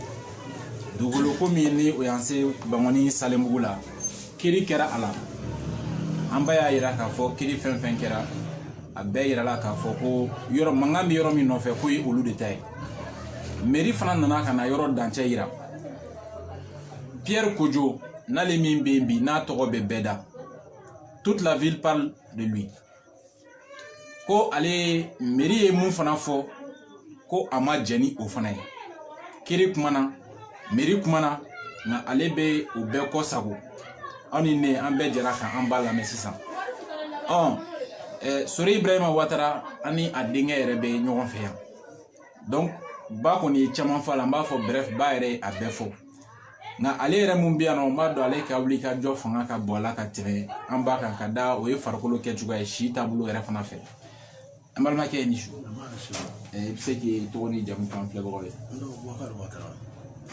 dugukolo ko min ni o y'an se bangɔni salenbugu la kiri kɛra a la an ba y'a yira k'a fɔ kiri fɛn fɛn kɛra a bɛɛ yirala k'a fɔ ko yɔrɔ mankan bɛ yɔrɔ min nɔfɛ k'o ye olu de ta ye meri fana nana ka na yɔrɔ dancɛ yira pierre kojo n'ale min bɛ yen bi n'a tɔgɔ bɛ bɛɛ da toute la ville parle de lui ko ale mɛri ye mun fana fɔ ko a ma jɛn ni o fana ye kiri kumana mɛri kumana nka ale bɛ o bɛɛ kɔ sago aw ni ne an bɛɛ jɛra ka an ba lamɛn sisan ɔ sori ibrahima watara ani a denkɛ yɛrɛ bɛ ɲɔgɔn fɛ yan donc ba kɔni ye caman fɔ a la n b'a fɔ bref ba yɛrɛ ye a bɛɛ fɔ nka ale yɛrɛ mun bɛ yan nɔ n b'a dɔn ale ka wuli ka jɔ fanga ka bɔ a la ka tɛmɛ an ba kan ka da o ye farikolo kɛcogoya ye si taabolo yɛrɛ fana fɛ an balimakɛ i ni su i bɛ se k'i tɔgɔ ni jamu fɔ an filɛbagaw ye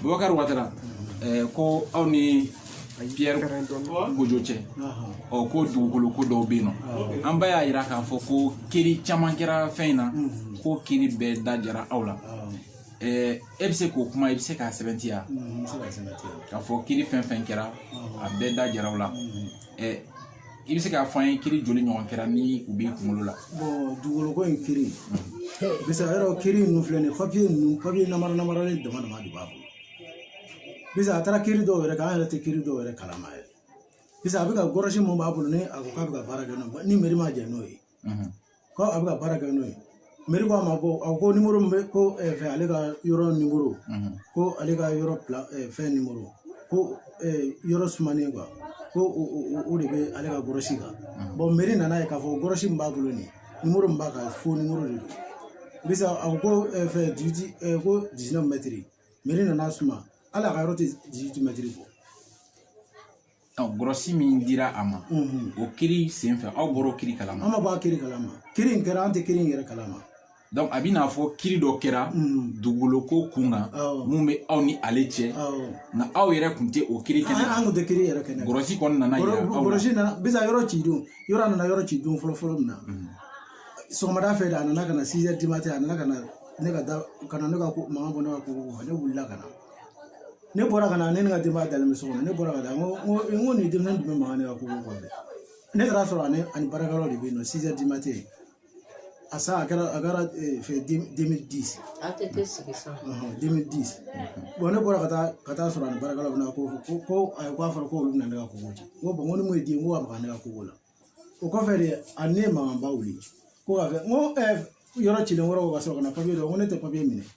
bubakari watara eh, ko aw ni pierre kojo cɛ ɔ ko dugukolo ko dɔw bɛ yen nɔ an ba y'a yira k'a fɔ ko kiri caman kɛra fɛn in na ko kiri bɛɛ da jara aw la e bɛ se k'o kuma i bɛ se k'a sɛbɛntiya k'a fɔ kiri fɛn fɛn kɛra a bɛɛ da jara aw la i bɛ se k'a fɔ an ye kiri joli ɲɔgɔn kɛra ni u b'i kunkolo la dugukolo ko in kiri bisa yɔrɔ kiri ninnu filɛ nin ye papiye ninnu papiye namara namaralen dama dama de b'a bolo bisa a taara kiri dɔw yɛrɛ kan an yɛrɛ tɛ kiri dɔw yɛrɛ kalama yɛrɛ bisa a bɛ ka gɔrɔsi mun b'a bolo ni a ko k'a bɛ ka baara kɛ n'o ye ni mɛri ma jɛn n'o ye ko a bɛ ka baara kɛ n'o ye mɛri ko a ma ko a ko numéro bɛ ko fɛ ale ka yɔrɔ numéro ko ale ka yɔrɔ fɛn numéro ko yɔrɔ sumanen quoi ko o de bɛ ale ka gɔrɔsi kan bɔn mɛri nana ye k'a fɔ gɔrɔsi min b'a bolo nin numéro min b'a kan faux numéro de don bisa a ko fɛn dix ko dix-neuf mɛtiri mɛri nana suma hali a ka yɔrɔ tɛ dix-huit mɛtiri bɔ gɔrɔsi min dira a ma o kiri senfɛ aw bɔra kiri kalama an ma bɔ a kiri kalama kiri in kɛra an tɛ kiri in yɛrɛ kalama donc a b'i n'a fɔ kiri dɔ kɛra dugukolo ko kun kan mun bɛ aw ni ale cɛ nka aw yɛrɛ tun tɛ o kiri kɛnɛ an tun tɛ kiri yɛrɛ kɛnɛ gɔrɔsi kɔni nana yira aw la gɔrɔsi nana bisa yɔrɔ ci don yɔrɔ nana yɔrɔ ci don fɔlɔ fɔlɔ min na sɔgɔmada fɛ de a nana ka na six heures du matin a nana ka na ne ka da ka na ne ka mankan bɔ ne ka ko ne wulila ka na ne bɔra ka na ne ni n ka denbaya dalen bɛ so kɔnɔ ne bɔra ka taa n ko n ko nin denmisɛnnin tun bɛ mankan ne ka ko kɔfɛ ne taara sɔrɔ ani ani baarakɛlaw de bɛ yen nɔ six heures du matin a san a kɛra a kɛra fɛn deux mille dix a tɛ tɛ sigi sa deux mille dix bɔn ne bɔra ka taa ka taa sɔrɔ ani baarakɛlaw bɛ na ko ko ko ayi k'a fɔra k'olu bɛna ne ka ko ci n ko bɔn n ko ni mun ye den ko ka maga ne ka ko la o kɔfɛ de a ne ye mankanba wuli ko ka fɛ n ko yɔrɔ cilen kɔrɔ ka sɔrɔ ka na papiye dɔ ko ne tɛ papiye minɛ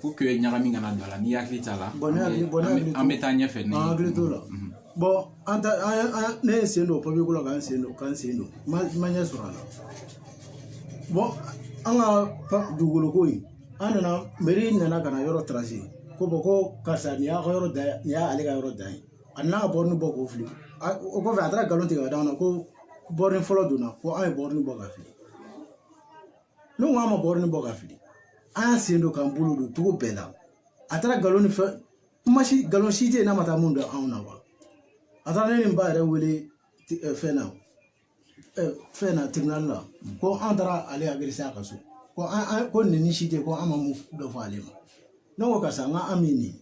pour que ɲagami kana don a la n'i hakili t'a la an bɛ taa ɲɛfɛ n'i hakili t'o la bɔn an ta an ne ye n sen don papiye ko la k'an sen don k'an sen don ma ɲɛ sɔrɔ a la bɔn an ka dugukolo ko in an nana meri nana ka na yɔrɔ tarase ko bɔn ko karisa nin y'a ka yɔrɔ dan ye nin y'ale ka yɔrɔ dan ye a nana ka bɔrɔni bɔ k'o fili o kɔfɛ a taara nkalon tigɛ ka d'an na ko bɔrɔni fɔlɔ donna ko an ye bɔrɔni bɔ ka fili ne ko an ma bɔrɔni bɔ ka fili an y'an sen don k'an bolo don cogo bɛɛ la a taara nkalon ni fɛn kuma si nkalon si tɛ yen n'a ma taa min da anw na wa a taara ne ni n ba yɛrɛ wele fɛn na fɛn na tribunal la ko an taara ale agrese a ka so ko an ko neni si tɛ ko an ma min dɔ fɔ ale ma ne ko karisa n ko an min nin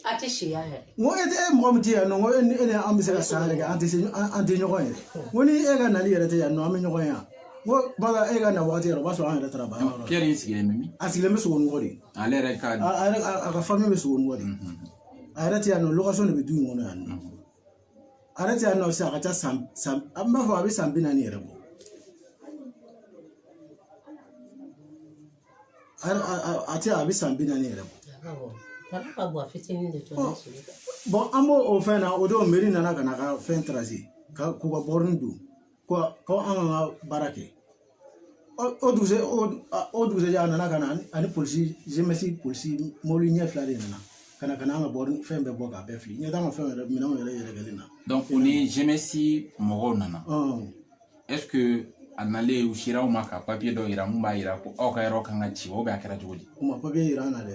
A tɛ si yan yɛrɛ n ko e tɛ e mɔgɔ min tɛ yan nɔ ko e ni e ni an bɛ se ka san yɛrɛ kɛ an tɛ se an tɛ ɲɔgɔn ye n ko ni e ka nali yɛrɛ tɛ yan nɔ an bɛ ɲɔgɔn ye yan n ko bala e ka na waati yɛrɛ o b'a sɔrɔ an yɛrɛ taara baara yɔrɔ Pierre in sigilen bɛ min a sigilen bɛ Sogonikɔ de ale yɛrɛ ka a yɛrɛ a ka fami bɛ Sogonikɔ de a yɛrɛ tɛ yan nɔ location de bɛ du in kɔnɔ yan nɔ ale tɛ yan nɔ sisan a ka ca san san an b'a fɔ a bɛ san bi naani yɛrɛ bɔ a tɛ a bɛ san bi naani yɛrɛ bɔ bɔn an b'o o fɛn na o don meri nana ka na ka fɛn tarase k'u ka bɔrɔni don ko ko an ka baara kɛ o dugusɛ o dugusɛjɛ a nana ka na ani polisi zemɛsi polisi mobili ɲɛ fila de nana ka na ka na an ka bɔrɔni fɛn bɛɛ bɔ k'a bɛɛ fili ɲɛ t'an ka fɛn yɛrɛ minɛnw yɛrɛ yɛrɛkɛlen na o ni zemɛsi mɔgɔw nana ɛseke a nalen u sera aw ma ka papiye dɔ yira min b'a yira ko aw ka yɔrɔ kan ka ci ou bien a kɛra cogo di u ma papiye yira an na dɛ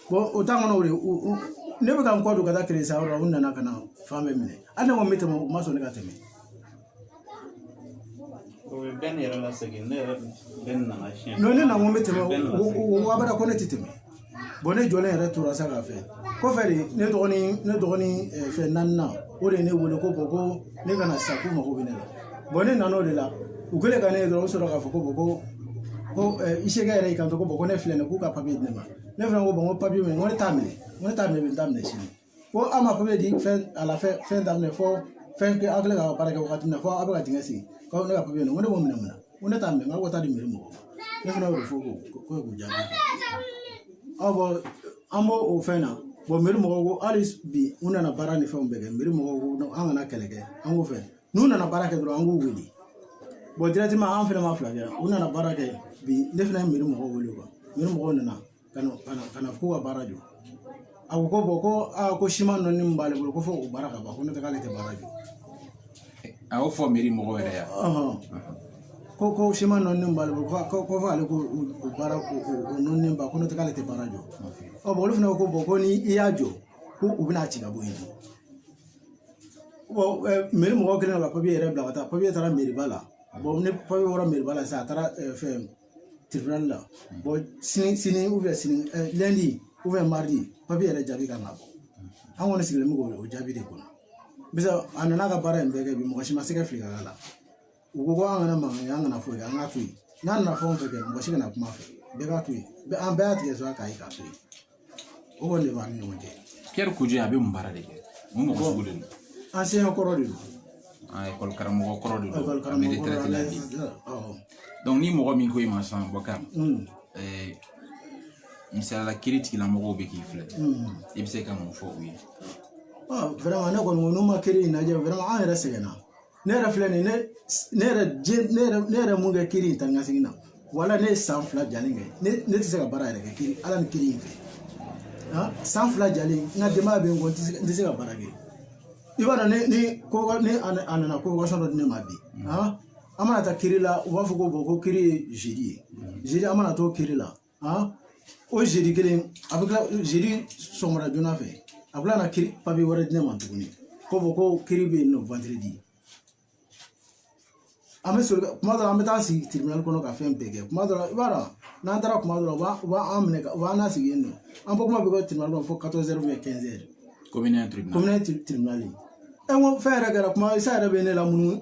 o temps kɔnɔ o de ne bɛ ka n kɔ don ka taa crédit san yɔrɔ la u nana ka na fan bɛɛ minɛ hali ne ko n bɛ tɛmɛ u ma sɔn ne ka tɛmɛ o bɛ bɛn ne yɛrɛ la segin ne yɛrɛ bɛn nana siɲɛ ne na ko n bɛ tɛmɛ o abada ko ne tɛ tɛmɛ ne jɔlen yɛrɛ tora sa ka fɛ kɔfɛ de ne dɔgɔnin ne dɔgɔnin fɛn naaninan o de ye ne wele ko ko ne ka na sa k'u mago bɛ ne la ne nana o de la u kɛlen ka ne ye dɔrɔn u sɔrɔ k'a fɔ ko ko ko Isiyaka yɛrɛ y'i kanto ko ko ne filɛ nin ye k'u ka papiye di ne ma ne fana ko n ko papiye min ko ne t'a minɛ n ko ne t'a minɛ bi n t'a minɛ sini ko aw ma papiye di fɛn a la fɛn fɛn daminɛ fɔ fɛn kɛ aw kɛlen ka baara kɛ wagati min na fɔ aw bɛ ka dingɛ sen ko ne ka papiye nin ko ne b'o minɛ mun na ko ne t'a minɛ n ko taa di meri mɔgɔw ma ne fana y'o fɔ ko ko k'u jaabi aw bɔn an b'o o fɛn na meri mɔgɔw ko hali bi u nana baara ni fɛnw bɛɛ kɛ meri mɔgɔw ko an kana kɛlɛ kɛ an k'o fɛ n'u nana baara kɛ dɔrɔn an k'u wele bɔn dirɛtiman an fɛnɛ ma fila kɛ u nana baara kɛ bi ne fɛnɛ ye meri mɔgɔw wele kuwa meri mɔgɔw nana ka na ka na ka na k'u ka baara jɔ a ko ko bɔn ko aa ko siman nɔni min b'ale bolo ko fo o baara ka ban ko ne tɛ k'ale tɛ baara jɔ a y'o fɔ meri mɔgɔw yɛrɛ ye ko ko siman nɔni b'ale bolo ko ko fo ale ko o baara ko o nɔni ba ko ne tɛ k'ale tɛ baara jɔ ɔ bɔn olu fɛnɛ ko ko bɔn ko ni i y'a jɔ ko u bɛn'a ci ka bɔ yen meri mɔgɔ kɛlen ka papiye yɛrɛ bila ka taa papiye taara meriba la ne papiye bɔra meriba la sisan a taara fɛn tiribinali la bɔn sini ou bien sini lɛndi ou bien maridi papiye yɛrɛ jaabi kan ka bɔ an kɔni sigilen bɛ k'o jaabi de kɔnɔ bisa a nana ka baara in bɛɛ kɛ bi mɔgɔ si ma se ka fili ka k'a la u ko ko an kana mankan kɛ an kana foyi kɛ an k'a to yen n'a nana fɛn o fɛn kɛ mɔgɔ si kana kuma fɛ bɛɛ k'a to yen bɛɛ an bɛɛ y'a tigɛ sɔrɔ k'a ye k'a to yen o kɔni de b'an ni ɲɔgɔn cɛ Pierre Kojo a bɛ mun baara de kɛ mun mɔgɔ sugu de don enseignant kɔrɔ de don ekɔli karamɔgɔ kɔrɔ de don a bɛ retraite la bi donc ni mɔgɔ min ko i ma sisan Bokar misaliya la kiritigɛlamɔgɔw bɛ k'i filɛ i bɛ se ka mun fɔ u ye vraiment ne kɔni ko n'u ma kiri in lajɛ vraiment an yɛrɛ sɛgɛnna ne yɛrɛ filɛ nin ye ne yɛrɛ diɲɛ ne yɛrɛ ne yɛrɛ mun kɛ kiri in taa ni ka segin na wala ne ye san fila jalen kɛ ne ne tɛ se ka baara yɛrɛ kɛ kiri ala ni kiri in fɛ san fila jalen n ka denbaya bɛ n kɔ n tɛ se ka baara kɛ i b'a dɔn ne ni ko ne a nana convocation dɔ di ne ma bi an mana taa kiri la u b'a fɔ ko ko kiri ye zedi ye zedi an mana t'o kiri la o zedi kelen a bɛ tila zedi sɔgɔmada joona fɛ a bɛ tila ka kiri papiye wɛrɛ di ne ma tuguni ko fɔ ko kiri bɛ yen nɔ vandiredi an bɛ soli kuma dɔ la an bɛ taa sigi tiribinali kɔnɔ ka fɛn bɛɛ kɛ kuma dɔ la i b'a dɔn n'an taara kuma dɔ la u b'an minɛ u b'an nasigi yen nɔ an bɔ kuma bɛ kɛ tiribinali kɔnɔ fo quatorze heures ou bien quinze heures kɔmi ne ye tiribinali tiribinali ɛ n ko fɛn yɛrɛ kɛra kuma isa yɛrɛ bɛ ne la munumunu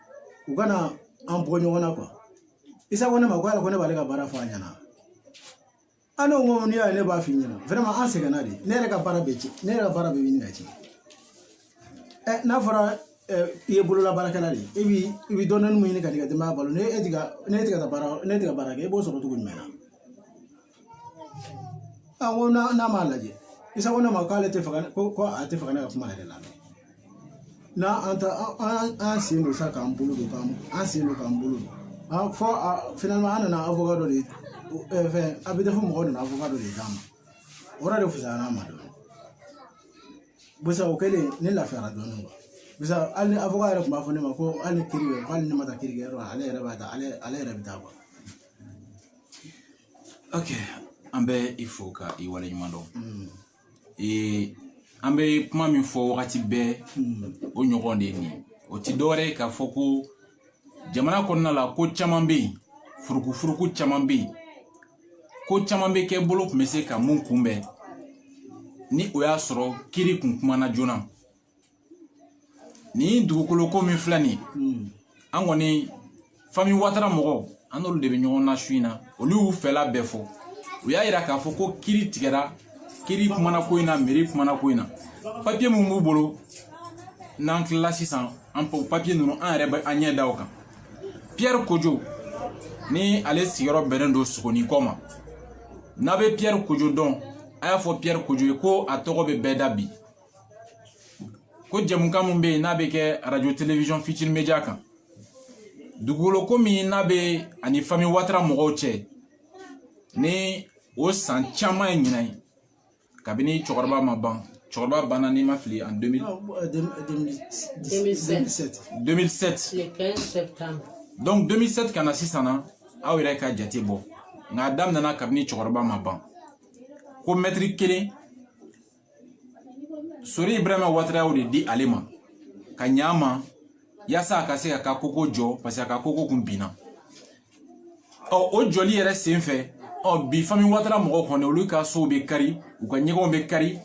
u ka na an bɔ ɲɔgɔn na kuwa isa ko ne ma ko ala ko ne b'ale ka baara fɔ a ɲɛna an n'o ko n'i y'a ye ne b'a f'i ɲɛna vraiment an sɛgɛnna de ne yɛrɛ ka baara bɛ ci ne yɛrɛ ka baara bɛ ɲini ka ci ɛ n'a fɔra i ye bolola baarakɛla de ye e bi i bi dɔɔnin min ɲini k'i ka denbaya balo ne e ti ka ne ti ka baara ne ti ka baara kɛ e b'o sɔrɔ cogo jumɛn na n ko n'a m'a lajɛ isa ko ne ma k'ale tɛ fɛ ko a tɛ fɛ ka ne ka kuma yɛrɛ lamɛn n'a an ta an sen don sa k'an bolo don k'an an sen don k'an bolo don fo finalement an nana awoka dɔ de fɛn a bɛ di fo mɔgɔw nana awoka dɔ de d'an ma o yɔrɔ de fisayara an ma dɔɔni busa o kɛlen ne lafiyara dɔɔni bisa hali ni awoka yɛrɛ tun b'a fɔ ne ma ko hali ni kiri bɛ hali ni ne ma taa kiri kɛyɔrɔ la ale yɛrɛ b'a ta ale yɛrɛ bɛ taa ok an bɛ i fo ka i wale ɲuman dɔn ee an bɛ kuma min fɔ wagati bɛɛ o ɲɔgɔn de ye nin ye o ti dɔwɛrɛ ye k'a fɔ ko jamana kɔnɔna la ko caman bɛ yen furukufuruku caman bɛ yen ko caman bɛ kɛ bolo kun bɛ se ka mun kunbɛn ni o y'a sɔrɔ kiri kun kumana joona nin dugukolo ko min filɛ nin hmm. an kɔni fami watara mɔgɔw an n'olu de bɛ ɲɔgɔn na su in na olu y'u fɛla bɛɛ fɔ u y'a yira k'a fɔ ko kiri tigɛra kiri kumana ko in na meri kumana ko in na papiye min b'u bolo n'an tilala sisan an papiye ninnu an yɛrɛ bɛ an ɲɛ da o kan piyɛri kojo ni ale sigiyɔrɔ bɛnnen don sugunin kɔ ma n'a bɛ piyɛri kojo dɔn a y'a fɔ piyɛri kojo ye ko a tɔgɔ bɛ bɛɛ da bi ko jɛmukan min bɛ yen n'a bɛ kɛ radio télévision futur média kan dugukolo ko min n'a bɛ ani fami watara mɔgɔw cɛ ni o san caman ye ɲinan ye kabini cɛkɔrɔba ma ban cɛkɔrɔba banna ni n ma fili en 2007 donc 2007 ka na sisan na aw yɛrɛ ka jate bɔ nka a daminɛna kabini cɛkɔrɔba ma ban ko mɛtiri kelen sori ibrahima watara y'o de di ale ma ka ɲa a ma yaasa a ka se k'a ka koko jɔ parce que a ka koko kun binna ɔ o jɔli yɛrɛ sen fɛ ɔ bi fami watara mɔgɔw kɔni olu ka sow bɛ kari u ka ɲɛgɛnw bɛ kari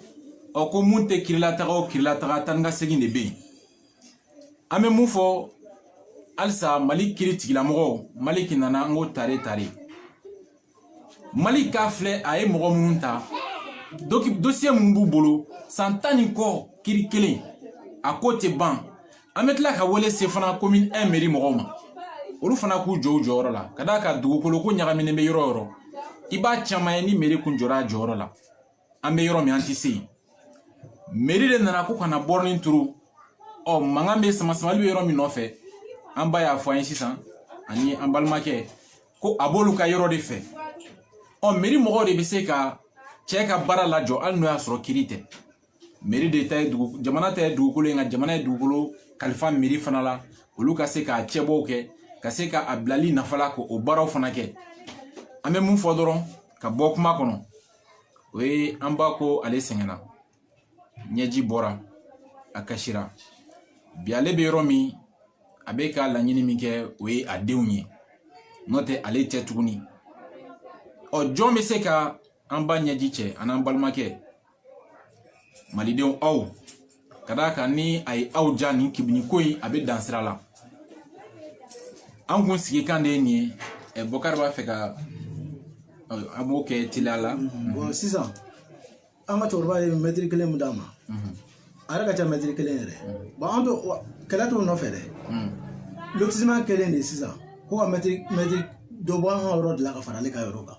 ɔ ko mun tɛ kirilataga o kirilataga taa ni ka segin de bɛ yen an bɛ mun fɔ halisa mali kiri tigilamɔgɔw maliki nana an ko tare tare maliki a filɛ a ye mɔgɔ minnu ta dosiye minnu b'u bolo san tan ni kɔ kiri kelen a ko tɛ ban an bɛ tila ka wele se fana commune 1 meri mɔgɔw ma olu fana k'u jɔ u jɔyɔrɔ la ka d'a kan dugukolo ko ɲagaminen bɛ yɔrɔ o yɔrɔ i b'a caman ye ni meri kun jɔra a jɔyɔrɔ la an bɛ yɔrɔ min an tɛ se yen meri de nana ko ka na bɔrɔnin turu ɔ mankan bɛ sama samali bɛ yɔrɔ min nɔfɛ an ba y'a fɔ an ye sisan ani an balimakɛ ko a b'olu ka yɔrɔ de fɛ ɔ meri mɔgɔw de bɛ se ka cɛ ka baara lajɔ hali n'o y'a sɔrɔ kiri tɛ meri de ta ye dugu jamana ta ye dugukolo ye nka jamana ye dugukolo kalifa meri fana la olu ka se k'a cɛbɔw kɛ ka se ka a bilali nafa la k'o baaraw fana kɛ an bɛ mun fɔ dɔrɔn ka bɔ kuma kɔnɔ o ye an ba ko ale sɛgɛnna ɲɛji bɔra a kasira bi ale bɛ yɔrɔ min a bɛ ka laɲini min kɛ o ye a denw ye n'o tɛ ale tɛ tuguni ɔ jɔn bɛ se ka an ba ɲɛji cɛ ani an balimakɛ malidenw aw ka d'a kan ni a ye aw ja nin kibini ko in a bɛ dan sira la an kun sigi kan de ye nin ye ɛ bɔkari b'a fɛ ka an b'o kɛ teliya la bɔn sisan an ka cɛkɔrɔba ye mɛtiri kelen min d'a ma a yɛrɛ ka ca mɛtiri kelen yɛrɛ bɔn an bɛ kɛlɛ t'o nɔfɛ dɛ lotisiman kelen de sisan ko ka mɛtiri mɛtiri dɔ bɔ an ka yɔrɔ de la ka fara ale ka yɔrɔ kan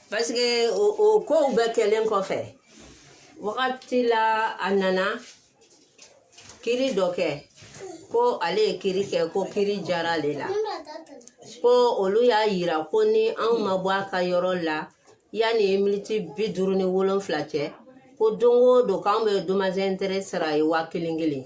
paseke o o kow bɛɛ kɛlen kɔfɛ wagati la a nana kiri dɔ kɛ ko ale ye kiri kɛ ko kiri diyara ale la ko olu y'a yira ko ni anw ma bɔ a ka yɔrɔ la yanni miniti bi duuru ni wolonfila cɛ ko don o don k'anw bɛ domazɛntere sara a ye waa kelen kelen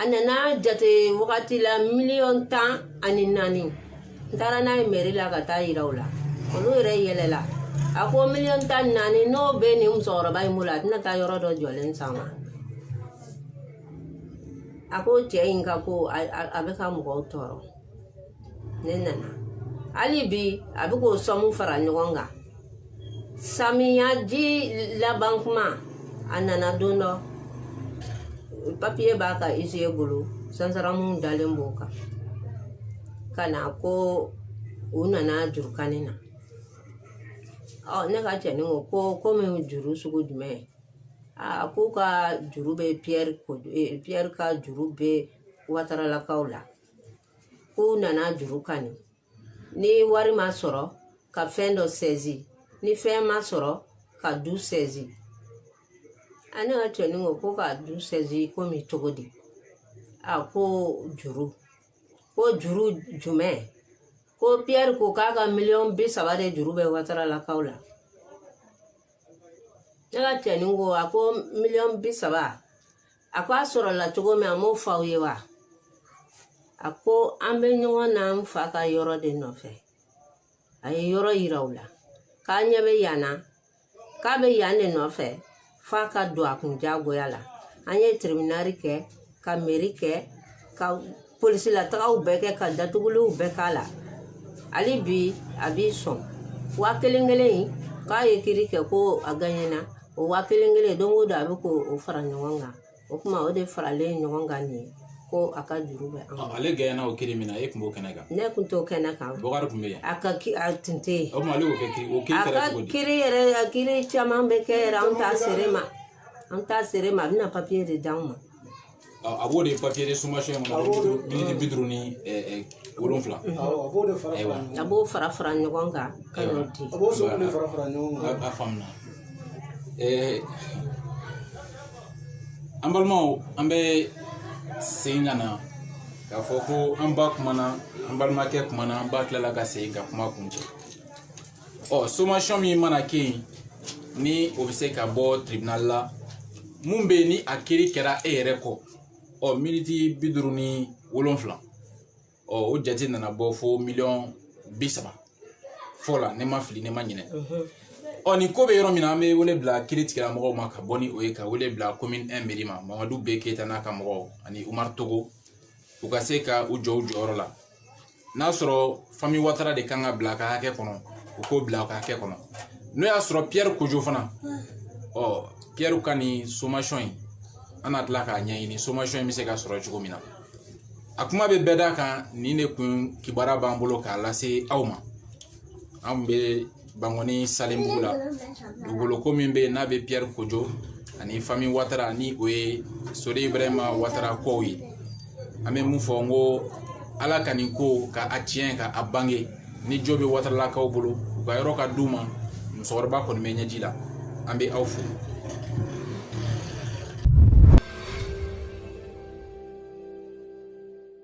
a nana jate wagati la miliyɔn tan ani naani n taara n'a ye mɛri la ka taa yira u la olu yɛrɛ yɛlɛla a ko miliyɔn tan ni naani n'o bɛ nin musokɔrɔba in bolo a tɛna taa yɔrɔ dɔ jɔlen san wa a ko cɛ in ka ko a bɛ ka mɔgɔw tɔɔrɔ ne nana hali bi a bɛ k'o sɔmu fara ɲɔgɔn kan samiyaji laban kuma a nana don dɔ papiye b'a ka isiye bolo sansaramu dalen b'o kan ka na ko u nana jurukani na ɔ ne ka cɛnin ko ko komi juru sugu jumɛn a k'u ka juru bɛ piyɛri ka juru bɛ wataralakaw la k'u nana juru kani ni wari ma sɔrɔ ka fɛn dɔ sɛzi ni fɛn ma sɔrɔ ka du sɛzi a ne ka cɛnin ko ko ka du sɛzi komi cogo di a ko juru ko juru jumɛn ko piyɛri ko k'a ka miliyɔn bi saba de juru bɛ wataralakaw la ne ka cɛnin ko a ko miliyɔn bi saba a ko a sɔrɔla cogo min a m'o fɔ aw ye wa a ko an bɛ ɲɔgɔn na n fa ka yɔrɔ de nɔfɛ a ye yɔrɔ yira u la k'a ɲɛ bɛ yan na k'a bɛ yan de nɔfɛ f'a ka don a kun diyagoya la an ye tiribinari kɛ ka mɛri kɛ ka polisilatagaw bɛɛ kɛ ka datuguliw bɛɛ k'a la hali bi a b'i sɔn waa kelen kelen in k'a ye kiri kɛ ko a gaɲɛna o waa kelen kelen don o don a bɛ k'o fara ɲɔgɔn kan o kuma o de faralen ɲɔgɔn kan nin ye ko a ka juru bɛ an ale gaɲɛna o kiri min na e tun b'o kɛnɛ kan ne tun t'o kɛnɛ kan bɔkari tun bɛ yen a ka a tun tɛ yen o tuma ale y'o kɛ kiri o kiri kɛra cogo di a ka kiri yɛrɛ a kiri caman bɛ kɛ yɛrɛ an t'a seere ma an t'a seere ma a bɛna papiye de d'anw ma a b'o de papiye de somasiyɔn kɔnɔ miniti bi duuru ni wolonfila a b'o fara fara ɲɔgɔn kan ka n'o di a b'o fara fara ɲɔgɔn kan a faamuya an balimaw an bɛ segin ka na k'a fɔ ko an ba kumana an balimakɛ kumana an ba tilala ka segin ka kuma kuncɛ ɔ somasiyɔn min mana kɛ yen ni o bɛ se ka bɔ tribunal la mun bɛ yen ni a kiri kɛra e yɛrɛ kɔ ɔ miniti bi duuru ni wolonfila ɔ o jate nana bɔ fo miliyɔn bi saba fɔ la ne ma fili ne ma ɲinɛ ɔ nin ko bɛ yɔrɔ min na an bɛ wele bila kiri tigilamɔgɔw ma ka bɔ ni o ye ka wele bila komin ɛn meri ma mamadu b keyita n'a ka mɔgɔw ani umaru togo u ka se ka u jɔ u jɔyɔrɔ la n'a sɔrɔ fami watara de kan ka bila a ka hakɛ kɔnɔ u k'o bila a ka hakɛ kɔnɔ n'o y'a sɔrɔ piyɛri kojo fana ɔ piyɛri ka nin somasiyɔn in an na tila k'a ɲɛɲini somasiyɔn in bɛ se ka sɔrɔ cogo min na a kuma bɛ bɛɛ da kan nin de kun kibaruya b'an bolo k'a lase aw ma an bɛ bankoni salenbugu la dugukoloko min bɛ yen n'a bɛ piyɛri kojo ani fami watara ni o ye sori ibrahima watara kɔw ye an bɛ mun fɔ n ko ala ka nin ko ka a tiɲɛ ka a bange ni jo bɛ wataralakaw bolo u ka yɔrɔ ka d'u ma musokɔrɔba kɔni bɛ ɲɛji la an bɛ aw fo